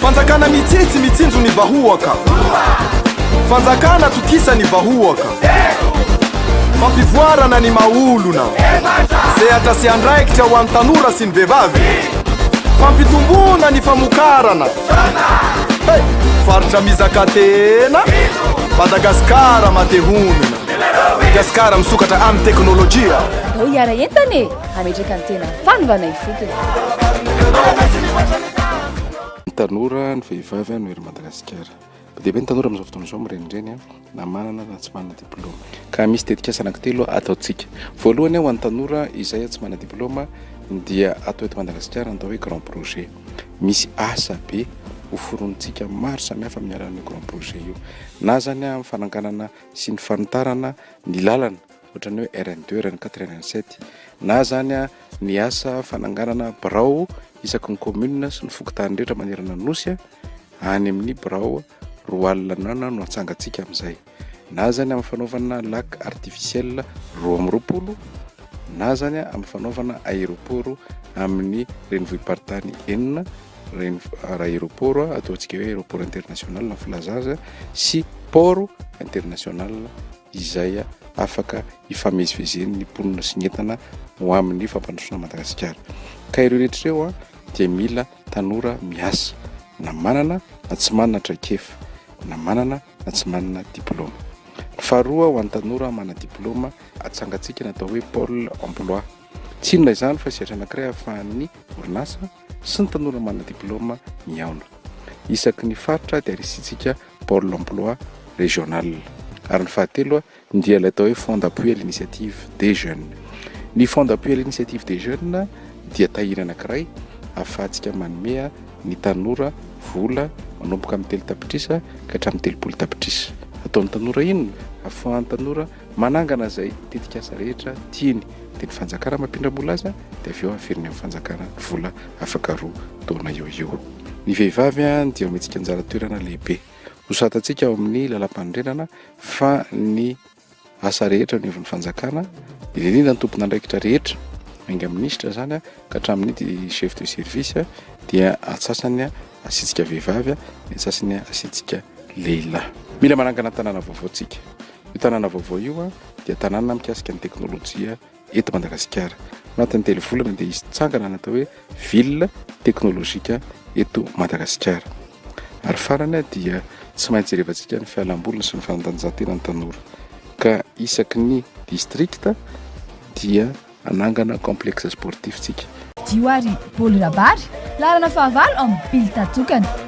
Fanjakana mitsitsy mitsinjo ny vahoaka Fanjakana tokisa ny vahoaka Fampivoarana ny maha-olona Sehatra sy andraikitra ho an'ny tanora sy ny vehivavy Fampitomboana ny famokarana Hey! Faritra mizaka tena Madagasikara mate honina Madagasikara misokatra amin'ny teknolojia Andao hiara-entana e! hametraka ny tena fanovana ifotony. Ny tanora, ny vehivavy no hery Madagasikara. Be dia be ny tanora amin'izao fotoana izao mirenireny na manana na tsy manana diplaoma. Ka misy tetikasa anankitelo ataontsika. Voalohany ho an'ny tanora izay tsy manana diplaoma dia atao eto Madagasikara ny atao hoe grand projet. Misy asa be ho foronontsika maro samihafa amin'ny alalan'io grand projet io. Na izany amin'ny fananganana sy ny fanitarana ny lalana ohatran'ny hoe RN deux, RN quatre, RN sept, na izany ny asa fananganana birao isaky ny commune sy ny fokontany rehetra manerana ny Nosy, any amin'ny birao roa alina ny andro no atsangantsika amin'izay, na izany amin'ny fanaovana lac artificiel roa amby roapolo, na izany amin'ny fanaovana aéroport amin'ny renivohi-paritany enina, reny aéroport ataontsika hoe aéroport international ny filazana azy sy port international. izay afaka hifamezivezeny ny mponina sy ny entana ho amin'ny fampandrosoana an'i Madagasikara. Ka ireo rehetra ireo dia mila tanora miasa, na manana na tsy manana traikefa, na manana na tsy manana diplaoma. Ny faharoa, ho an'ny tanora manadiplaoma, atsangantsika ny atao hoe Pôle emploi. Tsy inona izany fa sehatra anankiray ahafahan'ny orinasa, sy ny tanora manana diplaoma mihaona. Isaky ny faritra dia risihintsika Pôle emploi régional. Ary ny fahatelo dia ilay atao hoe Fonds d'appui à l'initiative des jeunes. Ny Fonds d'appui à l'initiative des jeunes dia tahiry anankiray ahafahantsika manome ny tanora vola manomboka amin'ny telo tapitrisa ka hatramin'ny telopolo tapitrisa. Ataon'ny tanora inona? Ahafahan'ny tanora Manangana izay tetikasa rehetra tiany, dia ny fanjakana mampindram-bola azy, dia avy eo averiny amin'ny fanjakana ny vola afaka roa taona eo eo. Ny vehivavy dia omentsika anjara toerana lehibe. Nosoratantsika ao amin'ny lalàmpanorenana fa ny asa rehetra aniovon'ny fanjakana, indrindra indrindra ny tompon'andraikitra rehetra, enga amin'ny minisitra izany ka hatramin'ny di- chef de service, dia antsasany asiantsika vehivavy, ny antsasany asiantsika lehilahy. Mila manangana tanàna vaovao tsika. Io tanàna vaovao io dia tanàna mikasika ny teknolojia eto Madagasikara. Anatin'ny telo volana dia hisy tsangana natao hoe ville teknolojika eto Madagasikara. Ary farany dia tsy maintsy jerevantsika ny fialamboliny sy ny fanatanjahantena ny tanora. Ka isaky ny district dia anangana complexe sportif tsika. Dio ary Paoly Rabary, laharana fahavalo amin'ny bill tatokana.